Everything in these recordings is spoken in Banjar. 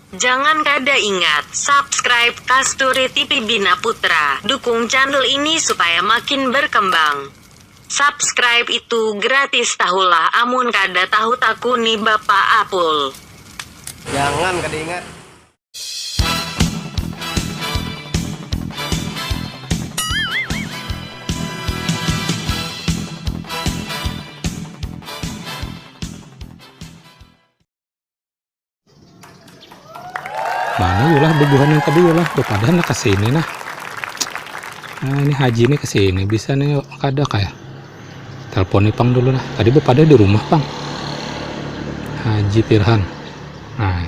Jangan kada ingat subscribe kasturi tipi bina putra dukung channel ini supaya makin berkembang subscribe itu gratis tahulah amun kada tahu takuni bapak apul. Jangan kada ingat. Mana yulah bubuhan yang tadi yulah bepadan lah kesini nah. Nah ini haji nih kesini bisa nih yuk kada kayak. Telepon nih pang dulu lah. Tadi bepada di rumah pang. Haji Pirhan. Nah.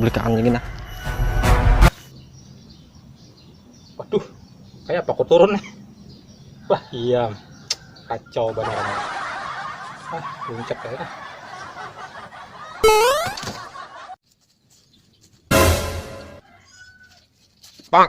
belikaan lagi nah waduh kayak apa aku turun nih wah iya kacau banget ah puncak kayak nah. Bang.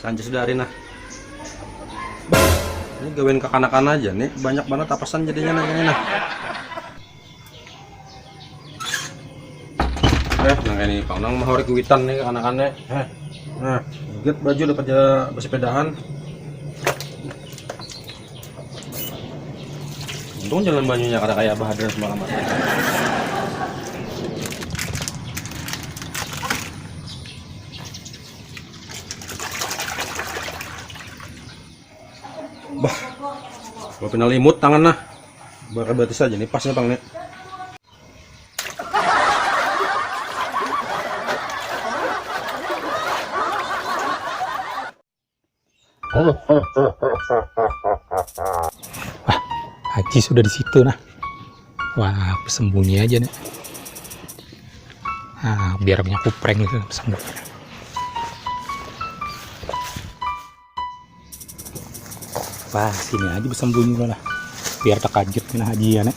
Sanjis dari nah. Ini gawin kekanakan aja nih, banyak banget tapasan jadinya nah ini nah. Eh, nah ini pang nang mahori kuitan nih kekanakannya. Eh, nah, get baju dapat besepedahan. Untung jalan banyunya kada kaya Abah Hadran semalaman. Bah, kalau pina limut tangan nah. Bakar batis aja nih, pasnya pang nih. Wah, Haji sudah di situ nah. Wah, sembunyi aja nih. Nah, biar punya kupreng gitu sembunyi. Wah, sini aja bersembunyi lah. Biar terkajut kena Haji ya nih.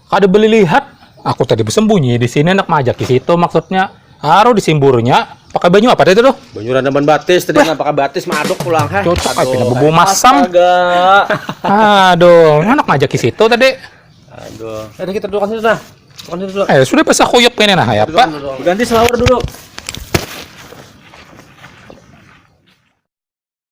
Kada beli lihat, aku tadi bersembunyi di sini anak majak di situ maksudnya. Aru disimburnya pakai banyu apa tadi tuh? Banyu randaman batis tadi nah pakai batis madok pulang ha. Cocok aja nah bubung masam. Aduh, anak majak di situ tadi. Aduh. Eh, kita duduk sini nah. Duduk Eh, sudah pasah kuyuk ini nah ya, Pak. Ganti selawar dulu.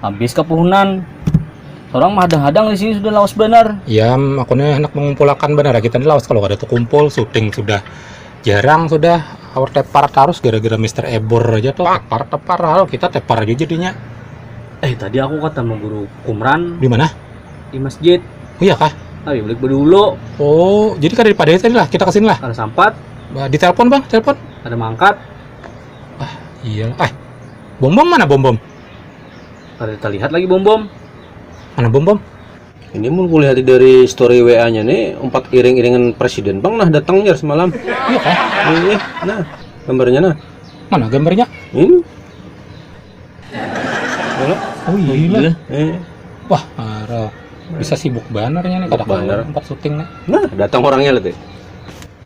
habis ke puhunan orang mah hadang-hadang di sini sudah lawas benar ya makanya hendak mengumpulakan benar ya, kita ini lawas kalau kada terkumpul syuting sudah jarang sudah awar tepar tarus gara-gara Mister Ebor aja tuh tepar tepar halo kita tepar aja jadinya eh tadi aku ketemu guru kumran di mana di masjid oh iya kah tapi balik dulu oh jadi kada dipadai tadi lah kita kesini lah kada sampat Ba- ditelepon bang telepon kada mangkat ah iya ah Bombom mana bombom? Kada terlihat lagi bombom. Mana bombom? Ini mun kulihat dari story WA-nya nih umpat iring-iringan presiden bang nah datang jar semalam. Iya kah? Iya, nah gambarnya nah. Mana gambarnya? Ini. Mana? Oh iya. iya. Eh. Wah, parah. Bisa sibuk banarnya nih kada kawan empat syuting nih. Nah, datang orangnya lihat.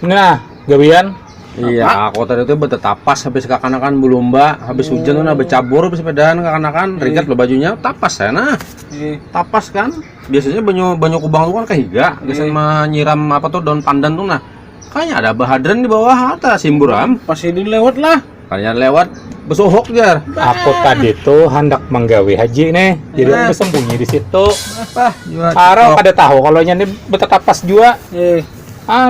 Nah, gawian. Iya, aku tadi tuh tapas habis kakanakan belumba, habis hmm. hujan udah bercabur habis sepedaan kakanakan, ringkat iya. lo bajunya tapas ya nah. Iya. Tapas kan. Biasanya banyu banyu kubang tuh kan kehiga, iya. biasanya menyiram apa tuh daun pandan tuh nah. Kayaknya ada bahadran di bawah atau simburam. Pas ini lewat lah. Kayaknya lewat besohok jar. Aku tadi tuh hendak menggawi haji nih, jadi aku sembunyi di situ. Apa? Arau ada tahu kalau nyanyi betetapas jua. Eh. ah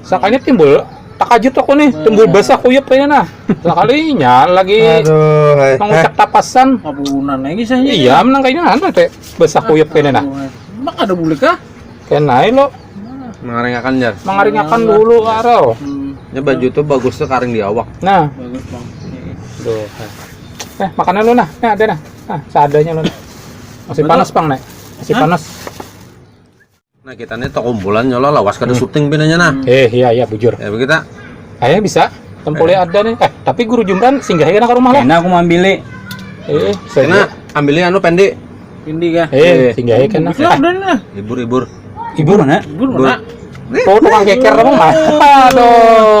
sakanya timbul takajut aku nih timbul basah kuyup kayaknya nah sekalinya lagi Aduh, hai. mengucap tapasan Abunan lagi saya. iya menang kayaknya ada teh basah kuyup kayaknya nah Mak ada bulik kah? kena lo Mengaringakan jar. mengaringakan dulu karo Hmm, Ya baju tuh bagus tuh karing di awak. nah bagus bang. Duh. Eh, makanan lu nah. Nah, ada nah. Nah, seadanya lu. Nah. Masih Bener. panas, Bang, Nek. Masih Hah? panas. Nah kita nih kumpulan nyolah lawas kada hmm. syuting pinanya nah. Eh iya iya bujur. Ya kita. Ayah bisa. Tempole eh. ada nih. Eh tapi guru Jumran singgah ya ke rumah lah. Enak aku mau ambil. Eh, saya ambilnya anu pendek. Pendek ya. Eh, singgah ya kan. Bisa udah nah. Libur libur. Libur mana? Libur mana? Tuh tukang keker emang mah. Aduh.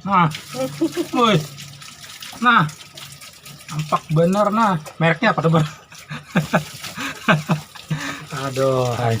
Nah, woi, nah, tampak bener nah, mereknya apa tuh Aduh, hai.